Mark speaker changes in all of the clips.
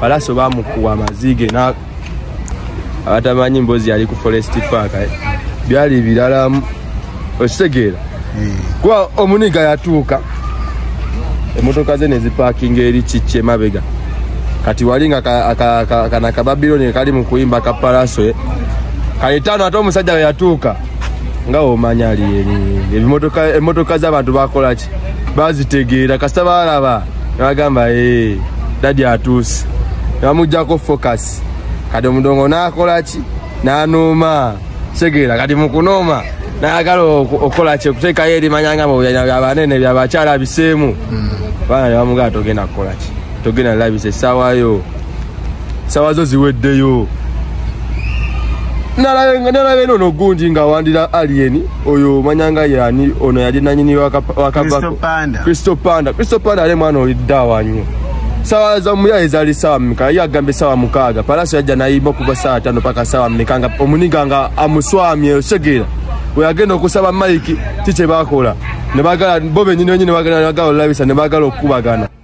Speaker 1: palaso bamukuwa amaziige abatamanyi mbozi yali ku forest park eh. byali birala okitegeera hmm. kuba omuniga yatuuka emotoka ze nezipakinga eri kikye mabega kati wali nga kana kababiloni kali mukuyimba ka palaso eh. kaitaano ate omusajja weyatuuka nga omanya ali ebimotoka emotoka zabantu bakolaki bazitegeera kasita balaba nebagamba eh, dadi atuuse nebamugjako focus kati omudongo nakolaki nanuuma kitegeera kati mukunooma nayagala okukola ki okuteekayo erimanya nga byabanene byabakyala biseemu hmm. baana nebamugala togenda kukola ki togenda labisa essaawayo sawa zo ziweddeyo nalabe eno no gundi nga wandira alien oyo manyanga yani ono yali nanyini wakabakristo panda kristo panda ale mwana oiddawanyo sawa za muyaye zali sawa mika ye agambe sawa mukaaga palaso yajja nayimba okuva sawa tano paka sawa mika nga omuniga nga amuswamye osegera weyagenda okusaba maiki kikyebakola nebagala bo benyini benyini bagala nagala olabisa nebagala okukubagana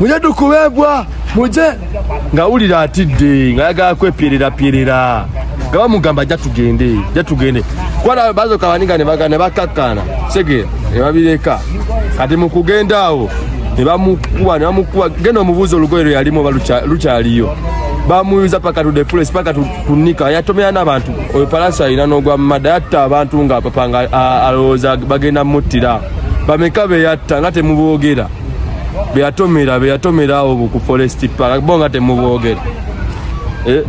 Speaker 1: muje tukubebwa muje ngawulira atidde ngayagala kwepererapyerera nga bamugamba ajja tugende ja tugende kwana bazoka baninga nebaga nebakakkana segera nebabireka kati mukugenda awo nebamukuba nebamukuba genda omubuuza olugoye lwe yalimu oba lukyaliyo bamuyuza paka tude fulesi paka tunika yatomera n'abantu oyo palansi alina n'ogwa mumada yatta abantu nga papa nga alowooza bagenda muttira bameka beyatta nga temuboogera beyatomera beyatomera awo ku forest park bo nga temubogera eh,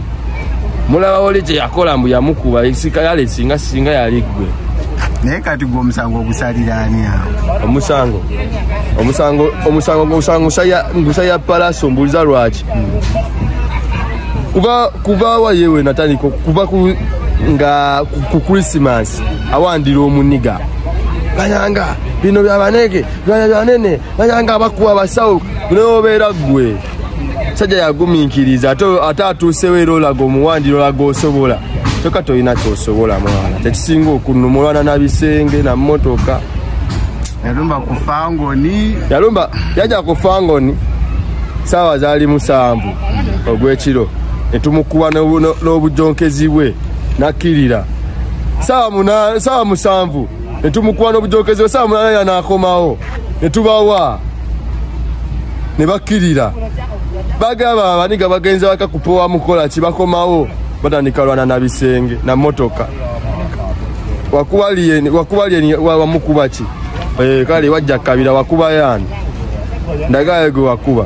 Speaker 1: mulaba oli kyeyakola mbu yamukuba yale singa singa yali gwe naye kati gwe omusango ogusalira ani awo omusango omusango omusango omusango ngusaya palaso mbuuliza lwaki kuva kuva wayewe natandika kuva nga ku christmas awandira omuniga bayanga bino byabanege byanya byanene byanya nga abakuwa abasawo neobeera ggwe sajja yagumiikiriza ate atuusewo era olaga omuwandira olaga osobola kyoka tolina kyosobola mwana kyekisinga okunumulwana na bisenge na mmotoka yalumba ku fangoni yalumba yaja ku fangoni saawa zaali musanvu ogw'ekiro ne tumukuba n'obujonkezi bwe nakkirira saawa musanvu ne tumukuwa n'obujokezo saa mulala yanaakomawo ne tubawa ne bakkirira bagaba abaniga bagenzi baka kupowa mukola ki bakomawo batandika lwana na bisenge na motoka wakubaliyeni wakubaliyeni wamukuba ki eh, kale wajja kabira wakuba yani ndagaye gwe wakuba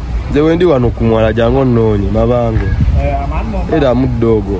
Speaker 1: nze wendi wano ku mwala jangu onnoonye mabango era mudde ogwo